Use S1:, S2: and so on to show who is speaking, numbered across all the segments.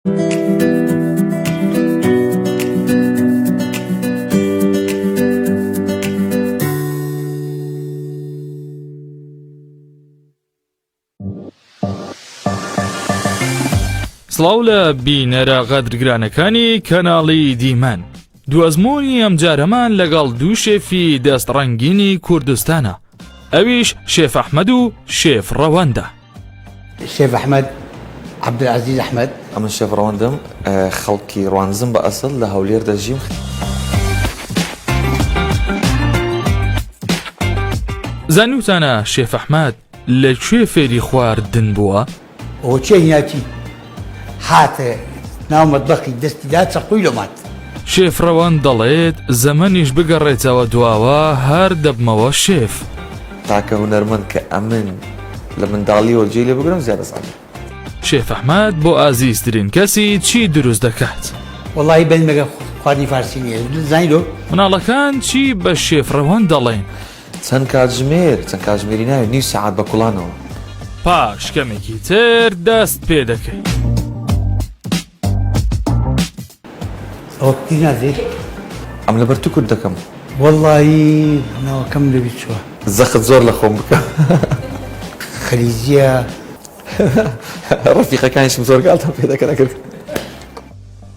S1: سڵاو لە بینەرە غەدرگرانەکانی کەناڵی دیمەن دوازمۆنی ئەم جارەمان لەگەڵ دوو شێفی دەست ڕەنگینی کوردستانە ئەویش شێف ئەحمەد و شێف ڕەوەندە. شێف ئەحمەد، عەبدولعەزیز ئەحمەد. ئەمن شێف ڕەوەندم، خەڵکی ڕوانزم بە ئەسڵ، لە هەولێر دەژیم. زانیوتانە شێف ئەحمەد لە کوێ فێری خواردن بووە؟ ئەوە چیە هیاتی هاتە ناو مەتبەخی دەستی دا چەقوی لۆ مات. شێف ڕەوەند دەڵێت زەمەنیش بگەڕێتەوە دواوە هەر دەبمەوە شێف. تاکە هونەرمەند کە ئەمن لە منداڵیەوە جێی لێ بگرم زیاد ئەزانم. شێف ئەحمەد بۆ ئازیزترین کەسی چی دروست دەکات؟ وەڵاهی بەنمێکە خواردنی فارسی نییە زانیلۆ. مناڵەکان چی بە شێف ڕەوەند دەڵێن؟ چەند کاتژمێر؟ چەند کاتژمێری ناوێت نیو سەعات بە کوڵانەوە. پاش کەمێکی تر دەست پێ دەکەین. ئەوە پتی نازێت؟ ئەم لەبەر تو کورت دەکەم. وەڵڵاهی ناوەکەم لەبیر چووە. زەخت زۆر لە خۆم بکە. خلیجییە. ڕەفیقەکانیشم زۆر گاڵتەم پێ دەکەن ئەگەر.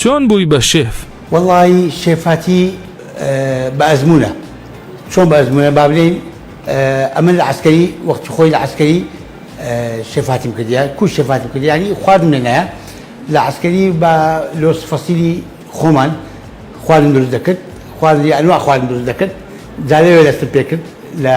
S1: چۆن بووی بە شێف؟ وەڵایی شێفاتی بە ئەزموونە. چۆن بە ئەزموونە با بلێین ئەمن لە عەسکەری وەختی خۆی لە عەسکەری شێفاتیم کردیە کو شێفاتم کردیانی خواردم لە نایە لە عەسکەری بە لۆس فەسیلی خۆمان خواردن دروست دەکرد خواردی ئەنوا خواردن دروست دەکرد جا لەوێ دەستم پێ کرد لە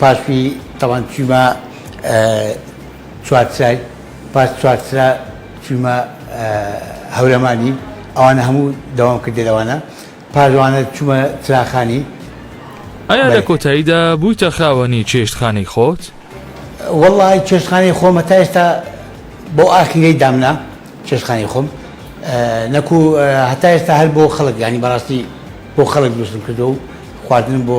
S1: پاسوی تاوان چویمە چوارچای پاس چوارچرا چویمە هەورەمانی ئەوانە هەموو داوام کردە لەوانە پاش ئەوانە چومە چراخانی ئایا لە کۆتاییدا بوویتە خاوەنی چێشتخانەی خۆت؟ وەڵڵا چێشتخانەی خۆم هەتا ئێستا بۆ ئاخیرەی دامنا چێشتخانەی خۆم نەکوو هەتا ئێستا هەر بۆ خەڵک یانی بەڕاستی بۆ خەڵک دروستم کردو و خواردنم بۆ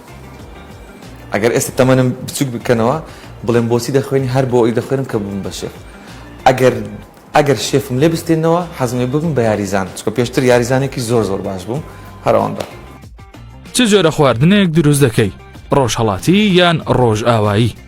S1: ئەگەر ئێستا تەمەنم بچوک بکەنەوە بڵێم بۆچی دەخوێنی هەر بۆ ئەوی دەخوێنم کە ببم بە شێف ئەگەر ئەگەر شێفم لێ بستێنەوە حەزمێ ببم بە یاریزان چکە پێشتر یاریزانێکی زۆر زۆر باش بووم هەر ئەوەندە چ جۆرە خواردنێک دروست دەکەی ڕۆژهەڵاتی یان ڕۆژئاوایی؟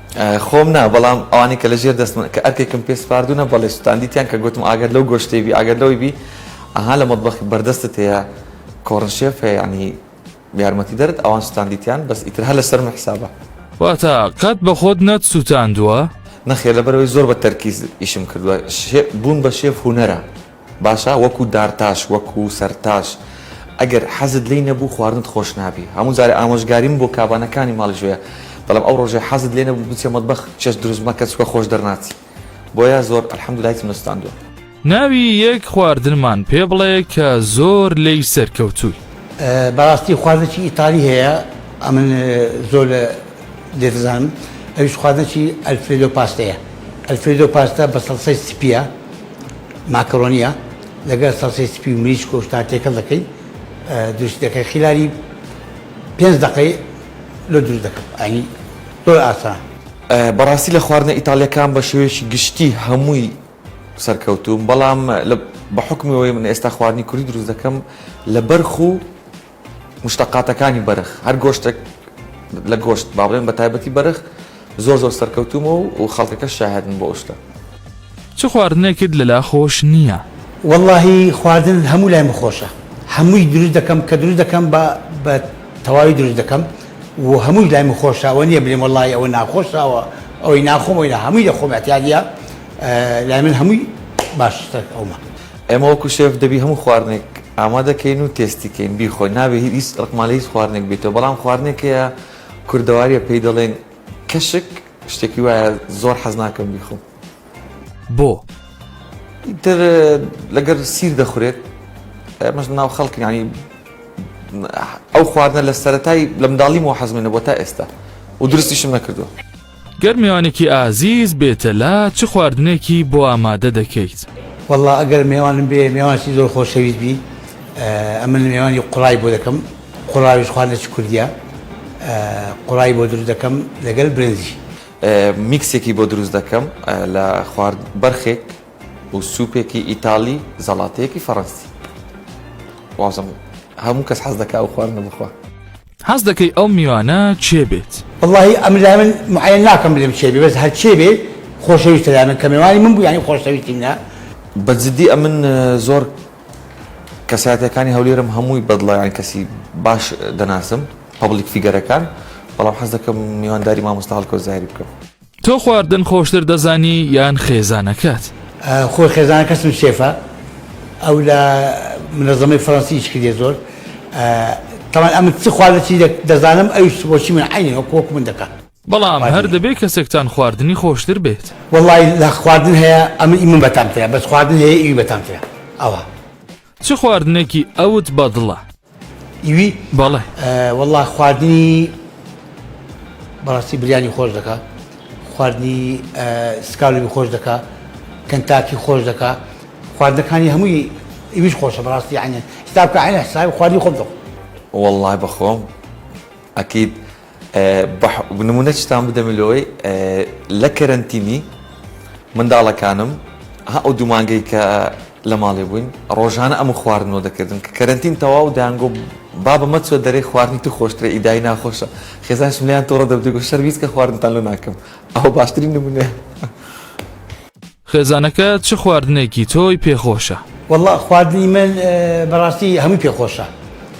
S1: خۆم نا بەڵام ئەوانەی کە لە ژێر دەستمن کە ئەرکێکم پێ سپاردوونە بەڵێ سوتاندیتیان کە گوتم ئاگەر لەو گۆشتەی بی ئاگەر لەوەی بی ئەها لە مەتبەخی بەردەستت هەیە کۆڕنشێف هەیە ینی یارمەتی دەرت ئەوان سوتاندیتیان بەس ئیتر هەر لەسەر من حسابە واتە قەت بە خۆت نەتسووتاندووە؟ نەخێر لەبەرەوەی زۆر بە تەرکیز ئیشم کردووە بوون بە شێف هونەرە باشە وەکو دارتاش وەکو سەرتاش ئەگەر حەزت لێی نەبوو خواردنت خۆش نابی هەموو جارێ ئامۆژگاریم بۆ کابانەکانی ماڵی ژۆیە دەڵێم ئەو ڕۆژەی حەزت لێ نەبوو بچە مەتبەخ چێشت دروست مەکە چووکە خۆش دەرناچی بۆیە زۆر الحمدللە هیچم نەسوتاندووە. ناوی یەک خواردنمان پێ بڵێ کە زۆر لێی سەرکەوتووی. بەڕاستی خواردنێکی ئیتالی هەیە ئەمن زۆر لێ دەزانم ئەویش خواردنێکی ئەلفرێدۆ پاستەیە ئەلفرێدۆ پاستە بە سەڵسەی سپیە. ماکەرۆنیە لەگەر سەڵسەی سپی و مریشک و شتان تێکەڵ دەکەی دروستی دەکەی خیلاری پێنج دەقەی لۆ دروست دەکەم ئەنی زۆر ئاسان. بەڕاستی لە خواردنە ئیتاڵیەکان بە شێوەیەکی گشتی هەمووی سەرکەوتووم بەڵام بە حوکمی ئەوەی من ئێستا خواردنی کوردی دروست دەکەم لە بەرخ و مشتەقاتەکانی بەرخ، هەر گۆشتێک لە گۆشت، با بڵێن بە تایبەتی بەرخ زۆر زۆر سەرکەوتوومە و خەڵکەکەش شاهێدن بۆ ئەو شتە. چ خواردنێکت لەلا خۆش نییە؟ وەڵاهی خواردن هەموو لایم خۆشە هەمووی دروست دەکەم کە دروست دەکەم بە بە تەواوی دروست دەکەم و هەمووی لایم خۆشە ئەوە نییە بلێم وەڵاهی ئەوە ناخۆشە وە ئەوەی ناخۆم ئەوی نا هەمووی دەخۆم ئەتیادیە لای من هەمووی باشترە ئەومە. ئێمە وەکو شێف دەبی هەموو خواردنێک ئامادە کەین و تێستی کەین بیخۆین نابێ هیچ ڕقمان لە هیچ خواردنێک بێتەوە بەڵام خواردنێک هەیە کوردەواریە پێی دەڵێن کەشک شتێکی وایە زۆر حەز ناکەم بیخۆم بۆ؟ ئیتر لەگەر سیر دەخورێت ئەمەش ناو خەڵکی ینی ئەو خواردنە لە سەتای لە منداڵیمەوە حەزمێنە بۆ تا ئێستا و درستیشم نەکردووە. گەر مێوانێکی ئازیز بێتە لا چ خواردنێکی بۆ ئامادە دەکەیت؟ وەڵا ئەگەر مێوانم بێ مێوانێکی زۆر خۆشەویست بی ئەمن مێوانی قوڕای بۆ دەکەم قوڕاویش خواردنێکی کوردیە قوڕای بۆ دروست دەکەم لەگەل برنجی. میکسێکی بۆ دروست دەکەم لە خوارد بەرخێک و سوپێکی ئیتاڵی زەڵاتەیەکی فەڕەنسی وازم هەموو کەس حەز دەکا ئەو خواردنە بخوا. حەز دەکەی ئەو میوانە کێ بێت؟ وەڵاهی ئەمن لای من معەیەن ناکەم بلێم کێ بێ بەس هەر کێ بێ خۆشەویستە لای من کە مێوانی من بوو یانی خۆشەویستی منە. بە جدی ئەمن زۆر کەسایەتیەکانی هەولێرم هەمووی بەدڵە یانی کەسی باش دەناسم پەبلیک فیگەرەکان بەڵام حەز دەکەم میوانداری مامۆستا هەڵکەوت زاهیر بکەم. تۆ خواردن خۆشتر دەزانی یان خێزانەکەت؟ خۆی خێزانەکەسم شێفە ئەو لە منەزەمەی فەرەنسی ئیش کردیە زۆر تەوان ئەمن چ خواردە چی دەزانم ئەوش بۆچی من عینی وەک وەک من دەکە بەڵام هەر دەبێ کەسێکتان خواردنی خۆشتر بێت وڵی لە خواردن هەیە ئەمن ئیمن بەتامترە بەس خواردن هەیە ئیوی بەتامترە ئەوە چ خواردنێکی ئەوت بەدڵە؟ ئیوی بەڵێ وەڵا خواردنی بەڕاستی بریانی خۆش دەکا خواردنی سکاوی خۆش دەکا کەنتاکی خۆش دەکا خواردنەکانی هەمووی ئیویش خۆشە بەڕاستی عینە ستاکە عینە ساوی خواردنی خۆم دەخۆ وەڵای بەخۆم ئەکیید بە نمونەچتان بدەمە لۆی لە کەرەنتینی منداڵەکانم ها ئەو دوومانگەی کە لە ماڵێ بووین ڕۆژانە ئەم خواردنەوە دەکردن کە کەرەنتین تەواو دەیانگۆ بابە مەچۆ دەرێ خواردنی تو خۆشترە ئیدای ناخۆشە خێزانشم لیان تۆڕە دەبتێگو شەرمیز کە خواردنتان لۆ ناکەم ئەوە باشترین نمونەیە. خێزانەکە چ خواردنێکی تۆی پێ خۆشە؟ وەڵا خواردنی من بەڕاستی هەمووی پێ خۆشە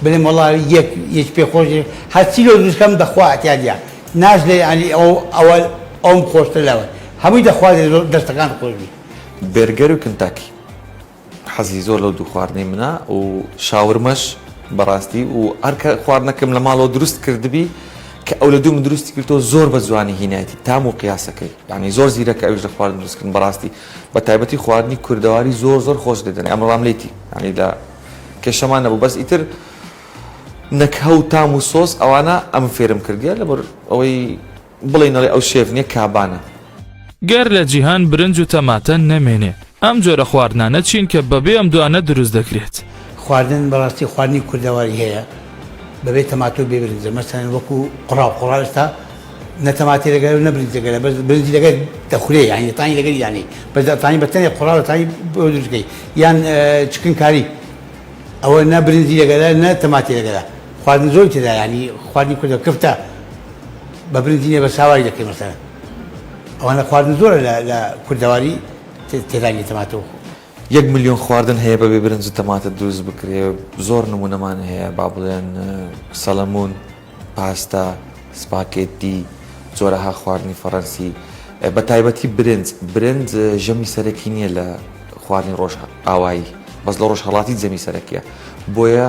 S1: بلێم وەڵا یەک یەکی پێ خۆش نیە هەرچی لۆ دروست کەم دەخوا ئەتیادیە ناژلێ یانی ئەو ئەوە ئەوم خۆشترە لەوە هەمووی دەخوازێ زۆر دەستەکانت خۆش بیت. بێرگەر و کنتاکی. حەزی زۆر لەو دوو خواردنەی منە و شاورمەش بەڕاستی و هەر کە خواردنەکەم لە ماڵەوە دروست کردبی کە ئەو لە دوو من دروستی کردەوە زۆر بە جوانی هینایەتی تام و قیاسەکەی یعنی زۆر زیرەکە ئەویش لە خواردن دروستکردن بەڕاستی بە تایبەتی خواردنی کوردەواری زۆر زۆر خۆش لێ دەنێ ئەمڕۆ ڕام لێتی یعنی لە کێشەمان نەبوو بەس ئیتر نەکهە و تام و سۆس ئەوانە ئەم فێرم کردیە لەبەر ئەوەی بڵێی نەڵێی ئەو شێف نیە کابانە. گەر لە جیهان برنج و تەماتە نەمێنێ ئەم جۆرە خواردنانە چین کە بەبێ ئەم دوانە دروست دەکرێت؟ خواردن بەڕاستی خواردنی کوردەواری هەیە بەبێ تەماتەو بێ برنجە مەسەلەن وەکو قوڕاو قوڕاو ئێستا نە تەماتەی لەگەلە و نە برنجی لەگەلە بەس برنجی لەگەل دەخورێ یانی دەتانی لەگەلی دانێی بەس دەتانی بە تەنێ قوڕاو دەتانی بۆ دروست کەی یان چکن کاری ئەوە نە برنجی لەگەلە نە تەماتی لەگەلە خواردن زۆری تێدا یانی خواردنی کوردە کفتە بە برنجی لێ بە ساوای دەکەی مەسەلەن ئەوانە خواردن زۆرە لە کوردەواری تێدانی تەماتۆ یەک ملیۆن خواردن هەیە بەبێ برنج تەماتە دروست بکرێ زۆر نمونەمان هەیە با بڵێن سەلەمونون پاستا سپاکێتی زۆرەها خواردنی فەڕەنسی بە تایبەتی برنج برنج ژەمی سەرەکی نییە لە خواردنی ڕۆژ ئاوایی بەس لە ڕۆژهڵاتی جەمی سەرەکیە بۆیە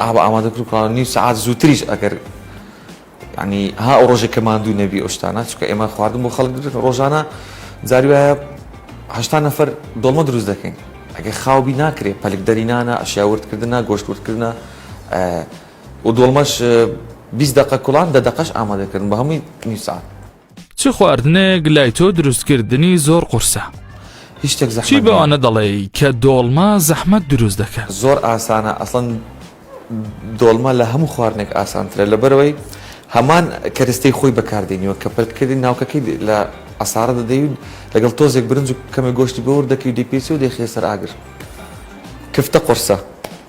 S1: ئاوا ئامادە بکەن کە نیو سەعات زووتریش ئەگەر ینی ها ئەو ڕۆژێک کە ماندوو نەبی ئەو شتانە چکە ئێمە خواردن بۆ خەڵک درێت ڕۆژانە جاری وایە هشتا نەفەر دڵمە دروست دەکەین ئەگە خاوبی ناکرێت پەلک دەرینانە ئەشیاوردکردە گۆشتوردکردە و دڵمەش 20 دقە کوڵان دە دەقش ئامادەکردن بە هەمووی نیسان چ خواردنێک لای تۆ دروستکردنی زۆر قورسە چی بەوانە دەڵێ کە دۆڵمە زەحمەت دروست دەکەن زۆر ئاسانە ئەسڵەن دۆڵمە لە هەموو خواردنێک ئاسانترە لە بەرەوەی هەمان کەرستەی خۆی بەکاردێنیوە کە پرتکردی ناوکەکەی لە ئەسارە دەدەیون لەگەڵ تۆزێک برنج و کەمە گۆشتی بۆور دەکەی دەپیچی و دەخێ سەر ئاگر کفتە قرسە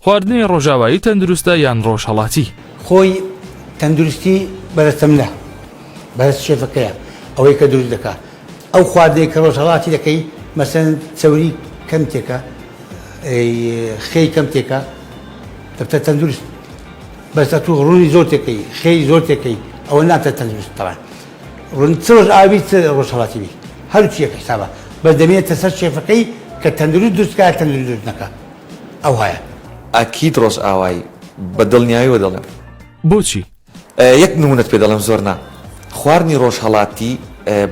S1: خواردنی ڕۆژاوایی تەندروستە یان ڕۆژهەڵاتی؟ خۆی تەندروستی بەرە تەملە بەرە شێفەکەیە ئەوەی کە دروست دەکا ئەو خواردەی کە ڕۆژ هەڵاتی دەکەی مەسەن چەوری کەم تێکە خێی کەم تێکە دەبتە تەندروست بەسە تو ڕوونی زۆر تێکەی خێی زۆر تێکەی ئەوە ناتە تەندروست تەوان ڕون چۆش ئاوی ڕۆژ هەڵاتی بی هەرچیەکە حسابە بەس دەمێتە سەر شێفەکەی کە تەندروست دروستکە تەندروست نەکە ئەو هەیە. ئەکید ڕۆژئاوایی بە دڵنیایەوە دەڵێم. بۆچی؟ یەک نمونەت پێ دەڵێم زۆر نا. خواردنی ڕۆژهەڵاتی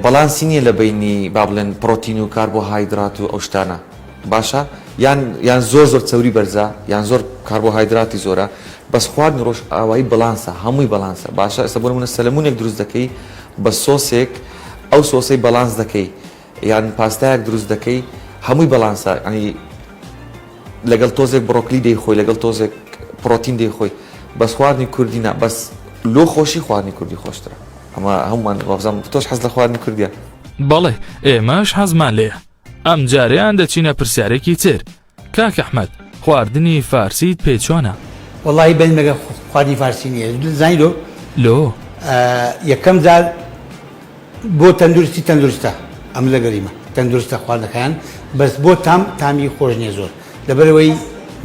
S1: بەڵانسی نیە لە بەینی با بڵێن پڕۆتین و کاربۆهایدرات و ئەو شتانە باشە یان یان زۆر زۆر چەوری بەرزە یان زۆر کاربۆهایدراتی زۆرە بەس خواردنی ڕۆژئاوایی بەڵانسە هەمووی بەڵانسە باشە ئێستا بۆ نمونە سەلەمونێک دروست دەکەی بە سۆسێک ئەو سۆسەی بەڵانس دەکەی یان پاستایەک دروست دەکەی هەمووی بەڵانسە ینی لەگەڵ تۆزێک بڕۆکلی دەی خۆی لەگەڵ تۆزێک پرۆتین دەی خۆی بەس خواردنی کوردی نا بەس لۆ خۆشی خواردنی کوردی خۆشترە ئەمە هەمومان وابزانم تۆش حەز لە خواردنی کوردیە بەڵێ ئێمەش حەزمان لێیە ئەم جارەیان دەچینە پرسیارێکی تر کاک احمد خواردنی فارسیت پێ چۆنە. وەڵاهی بەس مەگە خواردنی فارسی نییە زانی لۆ؟ لۆ؟ یەکەم جار بۆ تەندروستی تەندروستە ئەم لەگەریمە تەندروستە خواردەکان بەس بۆ تام تامی خۆش نییە زۆر لەبەرەوەی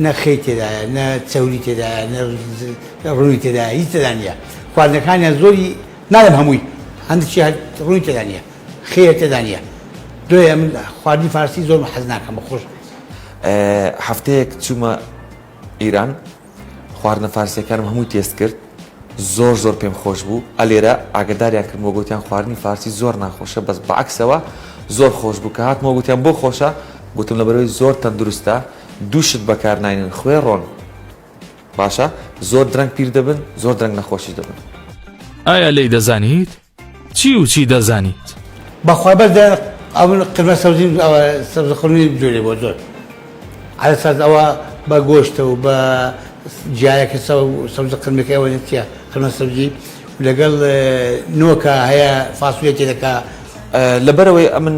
S1: نەخەی تێدایە نە چەوری تێدایە نە ڕووی تێدا هیچ تێدا نیە خواردنەکانیان زۆری ناڵێم هەمووی هەندێکی ڕووی تێدا نیە خێرە تێدا نیە دۆیە من خواردنی فارسی زۆرم حەز ناکەم بە خۆش هەفتەیەک چوومە ئیران خواردنە فارسیەکانم هەمووی تێست کرد زۆر زۆر پێم خۆش بوو ئەلێرە ئاگداریان کردمەوە گوتیان خواردنی فارسی زۆر ناخۆشە بەس بەعکسەوە زۆر خۆش بوو کە هاتمەوە گوتیان بۆ خۆشە گوتم لە بەرەوەی زۆر تەندروستە دووشت بەکارناینن خوێ ڕۆن باشە زۆر درەنگ پیر دەبن زۆر درەنگ نەخۆشی دەبن ئایا لی دەزانیت؟ چی و چی دەزانیت؟ بەخوا بەس دە ئەون قرمە سەوزی ئەوە سەوزە خڕنی بجوێنێ بۆ زۆر عەلە ساز ئەوە بە گۆشتە و بە جیایەکە سەوزە قرمەکە ئەوە چیە قرمە سەوزی لەگەڵ نۆکە هەیە فاسولێ تێ دەکا لەبەرئەوەی ئەمن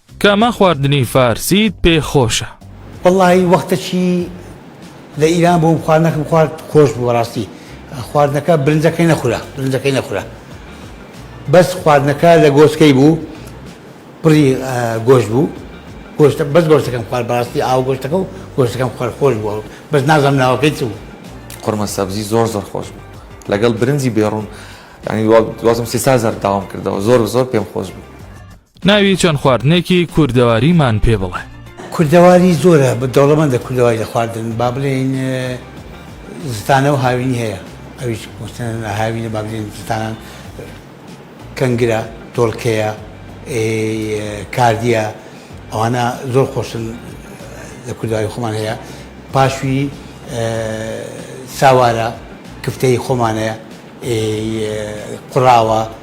S1: کامە خواردنی فارسیت پێ خۆشە؟ وەڵاهی وەختەکی لە ئیران بووم خواردنەکم خوارد خۆش بوو بەڕاستی خواردنەکە برنجەکەی نەخورا برنجەکەی نەخورا بەس خواردنەکە لە گۆشتکەی بوو پڕی گۆشت بوو گۆشتە بەس گۆشتەکەم خوارد بەڕاستی ئاو گۆشتەکە و گۆشتەکەم خوارد خۆش بووە بەس نازانم ناوەکەی چ بوو قورمە سەبزی زۆر زۆر خۆش بوو لەگەڵ برنجی بێڕوون یانی دوازم سێ چار جار داوام کردەوە زۆر زۆر پێم خۆش بوو. ناوی چەند خواردنێکی کوردەواریمان پێ بڵێ. کوردەواری زۆرە دەوڵەمەندە کوردەواری لە خواردن با بڵێین زستانە و هاوینی هەیە ئەویش مستەنە هاوینە با بڵێن زستانان کەنگرە دۆڵکەیە کاردیە ئەوانە زۆر خۆشن لە کوردەواری خۆمان هەیە پاشوی ساوارە کفتەی خۆمانەیە قڕاوە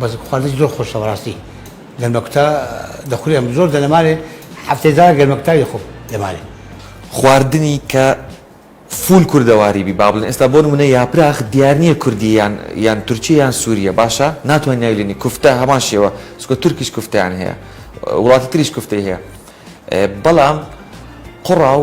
S1: بەس خواردنی زۆر خۆشە بەڕاستی گەرمەکوتا دەخورێم زۆر دەنەمارێ هەفتەی جارە گەرمەکوتاوی دەخۆم دەمارێ. خواردنی کە فوول کوردەواری بی با بڵێن ئێستا بۆ نمونە یاپراخ دیار نیە کوردیە یان یان تورکیە یان سوریە باشە ناتوانی ناوی لێنی کوفتە هەمان شێوە چونکە تورکیش کوفتەیان هەیە وڵاتی تریش کوفتەی هەیە بەڵام قوڕاو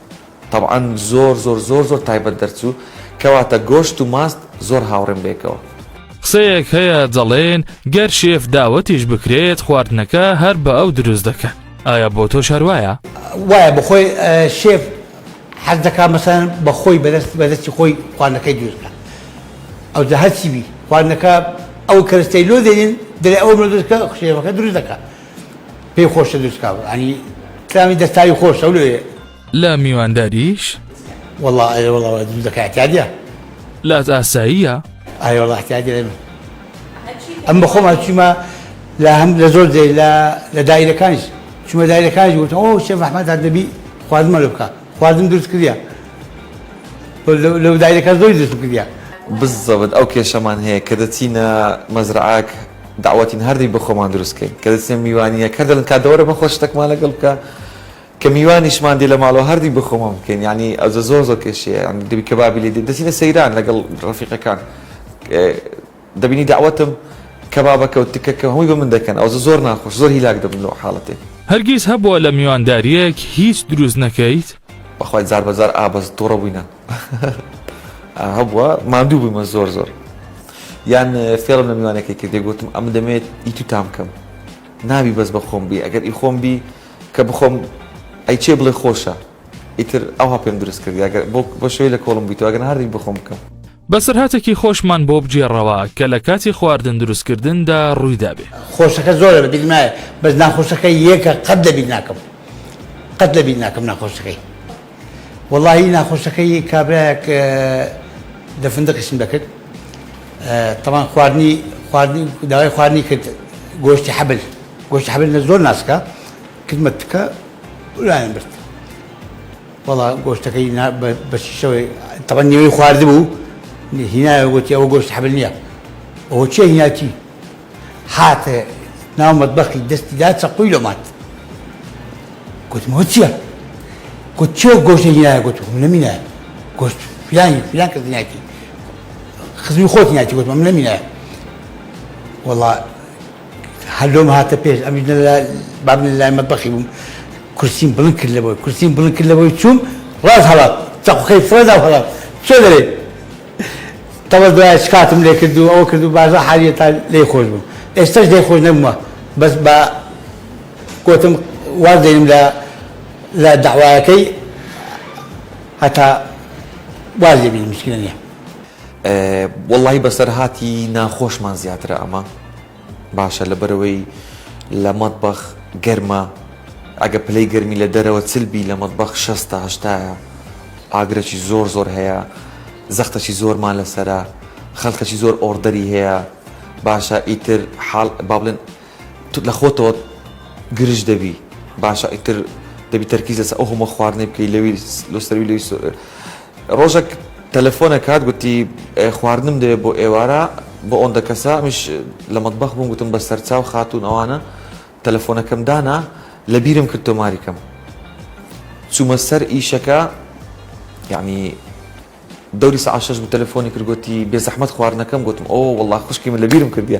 S1: تەبعەن زۆر زۆر زۆر زۆر تایبەت دەرچوو کەواتە گۆشت و ماست زۆر هاوڕێم بێکەوە. قسەیەک هەیە دەڵێن گەر شێف داوەتیش بکرێت خواردنەکە هەر بە ئەو دروست دەکەن ئایا بۆ تۆش هەر وایە؟ وایە بەخۆی شێف حەز دەکا مەسەن بە خۆی بەدەست بەدەستی خۆی خواردنەکەی دروست بکا ئەو جا هەرچی بی خواردنەکە ئەو کەرستەی لۆ دێنین دەرێ ئەوم لۆ دروست کە شێفەکە دروست دەکا پێی خۆشە دروست کا ینی کرامی دەستاوی خۆش ئەو لێ لە میوانداریش وەڵا ئەێ وەڵەوە دروست دەکاتیادە لات ئاساییە ئاێ وڵاتیادە ئەم بە خۆمان چیمە لە هەم لە زۆر جێ لە لە دایرەکانیش چمە دایرەکانیش وتن ئەو شێ فەحمەدا دەبی خواردمە لە بکە خواردن دروست کردە لەو دایرەکە زۆی دروست کردە بزەبت ئەو کێشەمان هەیە کە دەچینە مەزرعاک دەعوەتین هەردەین بۆ خۆمان دروست کەین کە دەچنە میوانییەک هەر دەڵێن کادە وەرە مەخۆ شتەکمان لەگەڵ بکە کە میوانیشمان دێ لە ماڵەوە هەردی بۆ خۆمان بکەین یعنی ئەوجە زۆر زۆر کێشەیە یعنی دەبی کەبابی لێ دێ دەچینە سەیران لەگەڵ ڕەفیقەکان دەبینی دەعوەتم کەبابەکە و تکەکە هەمووی بە من دەکەن ئەوجە زۆر ناخۆش زۆر هیلاک دەبن لەو حاڵەتێ هەرگیز هەبووە لە میواندارییەک هیچ دروست نەکەیت؟ بەخوای جار بە جار ئا بەس توڕە بووینە. هەبووە ماندوو بوومە زۆر زۆر یان فێڵم لە میوانەکەی کردێ گوتم ئەم دەمێت ئی تو تام کەم نابی بەس بە خۆم بی ئەگەر ئی خۆم بی کە بخۆم ئەی چێ بڵێ خۆشە ئیتر ئەوها پێم دروست کرد ئەگەر بۆ بە شوێ لە کۆڵم بیتەوە ئەگەر هەردی بخۆم بکەم بەسەرهاتێکی خۆشمان بۆ بگێڕەوە کە لە کاتی خواردن دروستکردندا ڕوویدابێ خۆشەکە زۆرە بە بیرمایە بەس ناخۆشەکە یەکە قەت لە بیر ناکەم قەت لە بیر ناکەم ناخۆشەکەی وەڵاهی ناخۆشەکەی کابرایەک دە فندقیشم دەکرد تەوان خواردنی خواردنی داوای خواردنی کرد گۆشتی حەبل گۆشتی حەبل لە زۆر ناسکە کردمە تکە لایەن برد وەڵا گۆشتەکەی بەشیشەوەی تەوان نوێی خواردبوو هینایە گوتی ئەوە گۆشت حەبل نییە ئەوە چیە هیناتی هاتە ناو مەتبەخی دەستی دا چەقۆی لۆ مات گوتم ئەوە چییە؟ گوت چێ گۆشتی هینایە گوت من نەمینایە گۆشت فلانی فلان کەس هینایەتی خزمی خۆت هینایەتی گوتم من نەمینایە وەڵا هەر لۆم هاتە پێش ئەمیش نە لە باب نە لای مەتبەخی بووم کورسیم بڵند کرد لەوەی کورسیم بڵند کرد لەوەی چووم ڕاست هەڵات چەقۆکەی فرەدا و هەڵات چۆ دەرێ تەڵە دوایە چ کاتم لێ کرد و ئەوە کرد و باشە حالیە تا لێی خۆش بووم ئێستەش لێی خۆش نەبوومە بەس بە گۆتم واز دێنم لە لە دەعوایەکەی هەتا واز لێ بینم مشکلە نییە. وەڵڵاهی بەسەرهاتی ناخۆشمان زیاترە ئەمە. باشە لەبەرئەوەی لە مەتبەخ گەرمە ئەگە پلەی گەرمی لە دەرەوە چل بی لە مەتبەخ شەستا هەشتایە ئاگرەکی زۆر زۆر هەیە زەختەکی زۆرمان لەسەرە خەلکەکی زۆر ئۆردەری هەیە باشە ئیتر حاڵ با بڵێن تو لە خۆتەوە گرژ دەبی باشە ئیتر دەبی تەرکیز لەسەر ئەو هەموە خواردنەی بکەی لەوی لۆ سەروی لەوی سەروی ڕۆژەک تەلەفۆن ئەکات گوتی خواردنم دەوێت بۆ ئێوارە بۆ ئۆندە کەسە ئەمیش لە مەتبەخ بووم گوتم بە سەرچاو خاتوون ئەوانە تەلەفۆنەکەم دانا لە بیرم کرد تۆماری کەم چوومە سەر ئیشەکە یعنی دەوری سەعات شەش بوو تەلەفۆنی کرد گوتی بێزەحمەت خواردنەکەم گوتم ئۆ وەڵڵا خوشکی من لە بیرم کردیە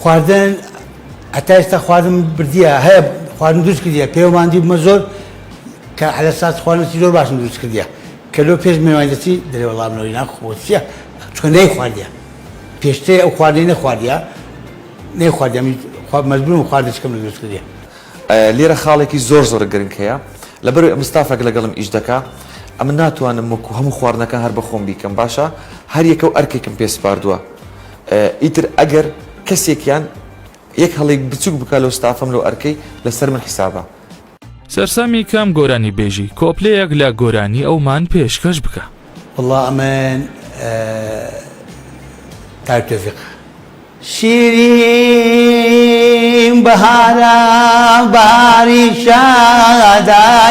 S1: خواردن هەتا ئێستا خواردنم بردیە هەیە خواردن دروست کردیە پێوە ماندی بمە زۆر کە حەلە ساز خواردنی زۆر باشم دروست کردیە کە لۆ پێش میوانی دەچی دەرێ وەڵا منەوەی ناخۆ چییە چکە نەیخواردیە پێشترێ ئەو خواردنەی نەخواردیە نەیخواردیە من خوا مەجبورم خواردنی چکەم لە دروست کردیە لێرە خاڵێکی زۆر زۆر گرنگ هەیە لەبەر ئەم ستافێک لەگەڵم ئیش دەکا ئەمن ناتوانم وەکو هەموو خواردنەکان هەر بە خۆم بیکەم باشە هەر یەکە و ئەرکێکم پێ سپاردووە ئیتر ئەگەر کەسێکیان یەک هەڵەی بچوک بکا لەو ستافەم لەو ئەرکەی لەسەر من حیسابە. سەرسامی کام گۆرانی بێژی؟ کۆپلەیەک لە گۆرانی ئەومان پێشکەش بکە. وەڵا ئەمن تاک تۆفیقە. شیرین بەهارە بەهاری شادایەیەی.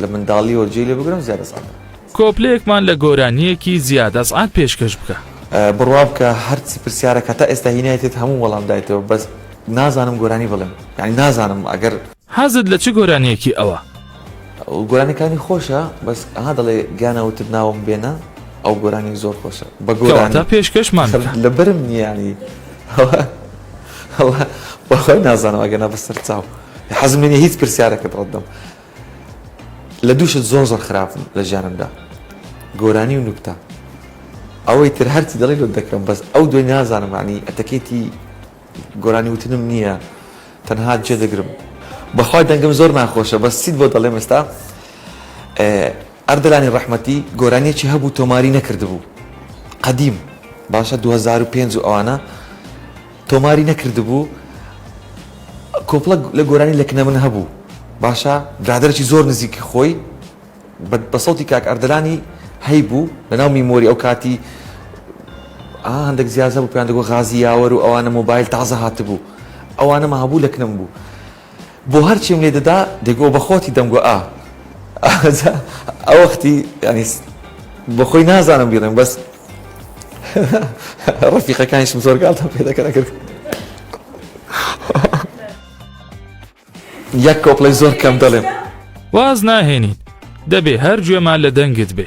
S1: لە منداڵیەوە جێی لێ بگرم زیاد ئەسعەدە. کۆپلەیەکمان لە گۆرانییەکی زیاد ئەسعەد پێشکەش بکە. بڕوا بکە هەرچی پرسیارەک هەتا ئێستا هی نایتێت هەموو وەڵام دایتەوە بەس نازانم گۆرانی بڵێم یانی نازانم ئەگەر. حەزت لە چ گۆرانیەکی ئەوە؟ گۆرانیەکانی خۆشە بەس ئەها دەڵێ گیانە وتت ناوم بێنە ئەو گۆرانی زۆر خۆشە بە گۆرانی. کەواتە پێشکەشمان بکە. لەبەرم نییە یانی وەڵا وەڵا نازانم ئەگەنا بەسەر چاو حەزم لێ نییە هیچ پرسیارەکت ڕەت دەم. لە دوو شت زۆر زۆر خراپم لە ژیانمدا گۆرانی و نوکتە ئەوەی تر هەرچی دەڵێ لۆت دەکەم بەس ئەو دوای نازانم معنی ئەتەکێتی گۆرانی وتنم نییە تەنها جێ دەگرم بەخوای دەنگم زۆر ناخۆشە بەس چیت بۆ دەڵێم ئێستا ئەردەلانی ڕەحمەتی گۆرانیەکی هەبوو تۆماری نەکردبوو قەدیم باشە 2005 و ئەوانە تۆماری نەکردبوو کۆپلە لە گۆرانی لە کنە من هەبوو باشە برادرەی زۆر نزیکی خۆی بە سەوتی کاک ئەردەلانی هەی بوو لە ناو میمۆری ئەو کاتی هەندێک زیازە بوو پێیان دەگۆ غازی یاوەر و ئەوانە مۆبایل تازە هاتبوو ئەوانەمە هەبوو لە کنم بوو بۆ هەرچیم لێ دەدا دەگۆ بە خۆتی دەمگۆ ئا ئاجا ئەوەختی یانی بۆ خۆی نازانم بیڵێم بەس ڕفیقەکانیشم زۆر گاڵتە پێ دەکەن کرد یەک کۆپڵی زۆر کەم دەڵێم واز ناهێنین دەبێ هەر گوێمان لە دەنگت بێ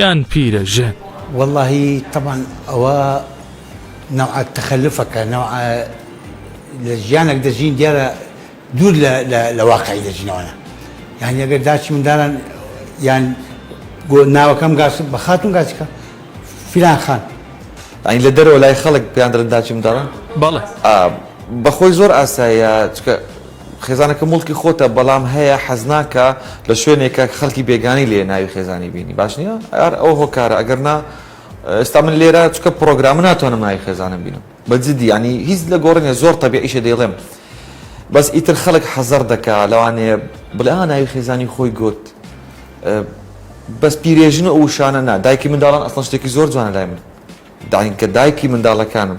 S1: یان پیرە ژن. وەڵاهی تەبعەن ئەوە نەوعە تەخەلوفەکە نەوعە لە ژیانەک دەژین دیارە دوور لە واقعی دەژینەوەە یعنی ئەگەر داچی منداران یان گۆ ناوەکەم گاس بە خاتون گاسیکە فیلان خان ئەین لە دەرەوە لای خەڵک پیاندرن داچی منداڵان بەڵێ بەخۆی زۆر ئاسایە چکە خێزانەکە موڵکی خۆتە بەڵام هەیە حەزناکا لە شوێنێکە خەڵکی بێگانی لێ ناوی خێزانی بینی باش نیە ئار ئەو هۆکارە ئەگەر نا ئێستا من لێرە چکە پرۆگرامە ناتوانم ناوی خێزانم بینم بە جدی ینی هیچ لە گۆڕنیە زۆر تەبیعیشە دەیڵێم بەس ئیتر خەڵک حەزەر دەکا لەوانێ بڵێ ناوی خێزانی خۆی گوت بەس پیرێژن و وشانە نا دایکی منداڵان ئەسڵ شتێکی زۆر جوانە لای من داینکە دایکی منداڵەکانم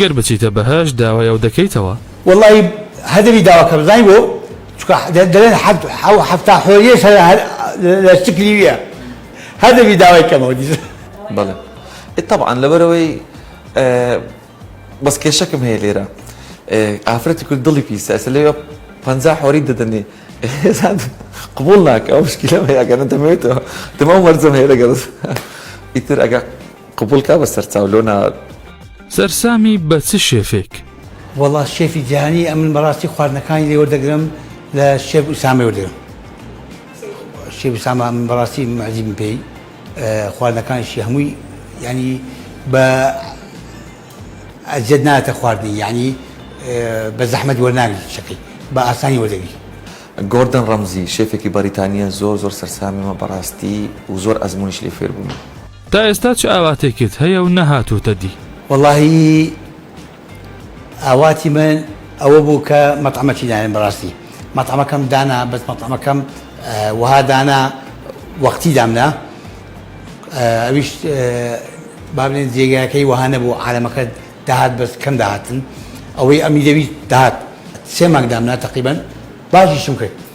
S1: گەر بچیتە بەهەشت داوای ئەو دەکەیتەوە. وەڵایی هەدەری داواکەم زانی بۆ چونکە دەلێن حەفتا حۆریەش هەر لە چکلیویە هەدەبی داوای کەمەوە دیسان. بەڵێ ئێ تەبعەن لەبەرئەوەی بەس کێشەکم هەیە لێرە ئافرەتی کورد دڵی پیسە ئێستا لێرە پەنجا حۆریت دەدەنێ قبوڵ ناکا ئەو مشکیلەم هەیە ئەگەر نەتەمەوێتەوە دەمەو مەرجەم هەیە لەگەڵت ئیتر ئەگە قبول کا بە سەرچاو لۆ ناات. سەرسامی بە چ شێفێک؟ وەڵا شێفی جیهانی ئەمن بەڕاستی خواردنەکانی لێ وەردەگرم لە شێف ئوسامەی وەردەگرم شێف ئوسامە من بەڕاستی مەزیبم پێی خواردنەکانیشی هەمووی ینی بە ئەزیەت ناتە خواردنی یعنی بە زەحمەت وەرناگری شەکەی بە ئاسانی وەردەگری گۆردن ڕەمزی شێفێکی بەریتانیە زۆر زۆر سەرسامیمە بەڕاستی و زۆر ئەزمونیش لێ فێربوومە. تا ئێستا چ ئاواتێکت هەیە و نەهاتۆتە دی؟ وەڵاهی ئاواتی من ئەوە بوو کە مەتعەمەکی ناێم بەڕاستی مەتعەمەکەم دانا بەس مەتعەمەکەم وەها دانا وەقتی دامنا ئەویش بابلێن جێگاکەی وەها نەبوو عالەمەکە داهات بەس کەم داهاتن ئەوەی ئەمی دەویست داهات سێ مانگ دامنا تەقیبەن باشیشم کرد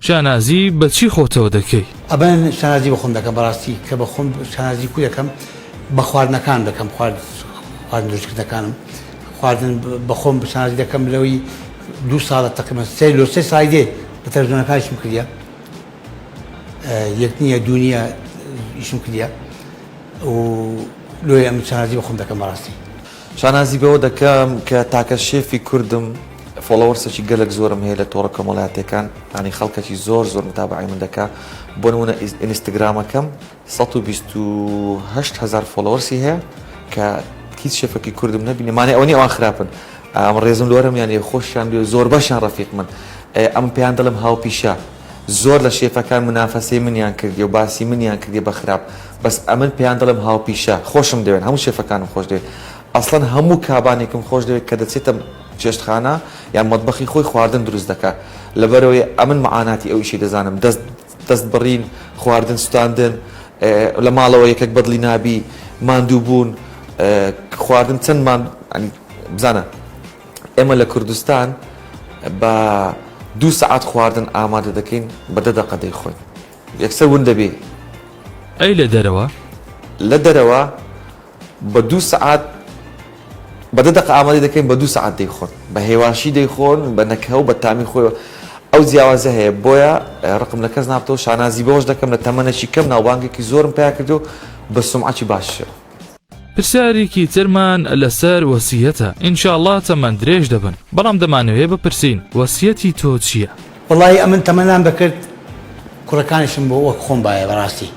S1: شانازی بە چی خۆتەوە دەکەی؟ ئەبەن شانازی بە خۆم دەکەم بەڕاستی کە بە خۆم شانازی کوو دەکەم بە خواردنەکان دەکەم خوارد خواردن دروستکردنەکانم خواردن بە خۆم شانازی دەکەم لەوەی دوو ساڵە تەقریبا سێ لۆ سێ سای دێ لە تەلەڤزیۆنەکانیشم کردیە یەک نییە دوو نییە ئیشم کردیە و لۆیە ئەم شانازی بە خۆم دەکەم بەڕاستی شانازی بەوە دەکەم کە تاکە شێفی کوردم فۆڵۆوەرسێکی گەلەک زۆرم هەیە لە تۆڕە کۆمەڵاتیەکان یانی خەڵکەکی زۆر زۆر متابعەی من دەکا بۆ نمونە ئینستاگرامەکەم 1280 هزار فۆڵۆوەرسی هەیە کە هیچ شێفەکی کوردم نەبینێ مانێ ئەوە نیە ئەوان خراپن ئەم ڕێزم لۆرەم یانێ خۆشیان بێ زۆربەشیان ڕەفیق من ئەم پێیان دەڵێم هاوپیشە زۆر لە شێفەکان منافەسەی منیان کردیە و باسی منیان کردیە بە خراپ بەس ئەمن پێیان دەڵێم هاوپیشە خۆشم دەوێن هەموو شێفەکانم خۆش دەوێ ئەسڵەن هەموو کابانێکم خۆش دەوێ کە دەچێتە چێشتخانە یان مەتبەخی خۆی خواردن دروست دەکا لەبەرەوەی ئەمن معاناتی ئەو ئیشەی دەزانم دەست دەست بڕین خواردن سوتاندن لە ماڵەوە یەکەک بەدڵی نابی ماندوو بوون خواردن چەندمان بزانە ئێمە لە کوردستان بە دوو سەعات خواردن ئامادە دەکەین بە دە دەقە دەیخۆین یەکسەر ون دەبێ. ئەی لە دەرەوە؟ لە دەرەوە بە دوو سەعات بە دە دەقە ئامادەی دەکەین بە دوو سەعات دەیخۆن بە هێواشی دەیخۆن بە نەکهە و بە تامی خۆیەوە ئەو جیاوازە هەیە بۆیە ڕقم لە کەس نابتەوە شانازی بەوەش دەکەم لە تەمەنەکی کەم ناوبانگێکی زۆرم پیا کردو بە سومعەکی باششەوە. پرسیارێکی ترمان لەسەر وەسیەتە ان شاء اللە تەمەن درێژ دەبن بەڵام دەمانەوێ بپرسین وەسیەتی تۆ چیە؟ وەڵایی ئەمن تەمەنام دەکرد کوڕەکانیشم بۆ وەک خۆم بایە بەڕاستی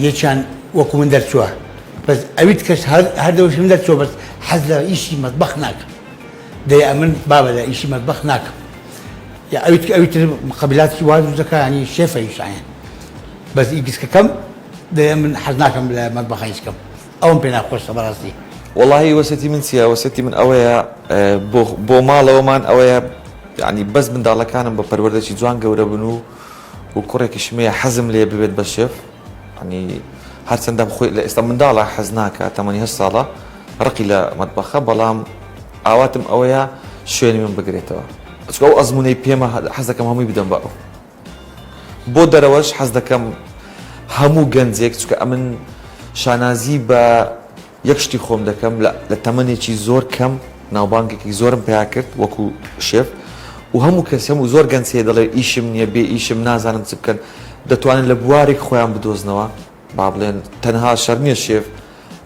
S1: یەکیان وەکو من دەرچووە بەس ئەویت کەس هەردەوشم دەرچووە بەس حەز لە ئیشی مەتبەخ ناکەم دەی ئەمن بابە لە ئیشی مەتبەخ ناکەم یا ئەویت ئەویتر قبلاتی واز دەکانی شێفە یشایەن بەس ئی گسکەکەم دەیە من حەز ناکەم لە مەتبەخا هیچ کەم ئەوم پێ ناخۆشە بەڕاستی. وەڵاهی وەسێتی من چیە وەسێتی من ئەوەیە بۆ بۆ ماڵەوەمان ئەوەیە یانی بەس منداڵەکانم بە پەروەردەکی جوان گەورە بن و و کوڕێکیشم هەیە حەزم لێ ببێت بە شێف ینی هەرچەندەم خۆی لە ئێستا منداڵە حەز ناکە تەمەنی هەر ساڵە ڕقی لە مەتبەخە بەڵام ئاواتم ئەوەیە شوێنی من بگرێتەوە چکە ئەو ئەزمونەی پێمە حەزەکەم هەمووی بدەم بە ئەو بۆ دەرەوەش حەز دەکەم هەموو گەنجێک چکە ئەمن شانازی بە یەک شتی خۆم دەکەم لە تەمەێکی زۆر کەم ناوبانگێکی زۆرم پیا کرد وەکو شێف و هەموو کەسم و زۆر گەنجێ دەڵێ ئیشم نییە بێ ئیشم نازانم چ بکەن دەتوانن لە بوارێک خۆیان بدۆزنەوە با بڵێن تەنها شەرنیە شێف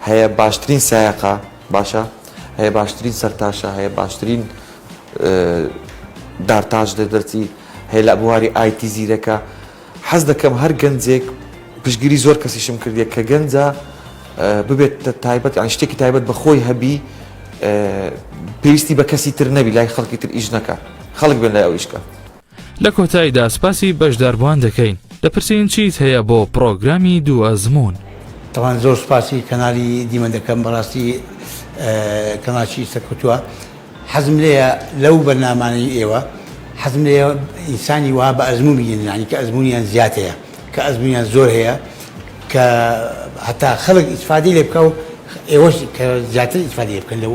S1: هەیە باشترین سایەقە باشە هەیە باشترین سەرتاشە هەیە باشترین دارتاش دەدەرچی هەیە لە بواری ئایتی زیرەکە حەز دەکەم هەر گەنجێک پشگیری زۆر کەسیشم کردیە کە گەنجە ببێت تایبەت ئەن شتێکی تایبەت بە خۆی هەبی پێویستی بە کەسی تر نەبی لای خەڵکی تر ئیش نەکە خەڵک بێن لای ئەو ئیشکە لە کۆتایدا سپاسی بەشداربوان دەکەین دەپرسین چیت هەیە بۆ پڕۆگرامی دوو ئەزموون؟ تەواند زۆر سوپاسی کەنالی دیمەن دەکەم بەڕاستی کەناڵێکی سەرکەوتوە حەزم لێیە لەو بەرنامانەی ئێوە حەزم لێیە ئینسانی وا بە ئەزموون بینن یانی کە ئەزموونیان زیاد هەیە کە ئەزموونیان زۆر هەیە کە هەتا خەڵک ئیسفادەی لێ بکا و ئێوەش کە زیاتر ئیسفادەی لێ بکەن لەو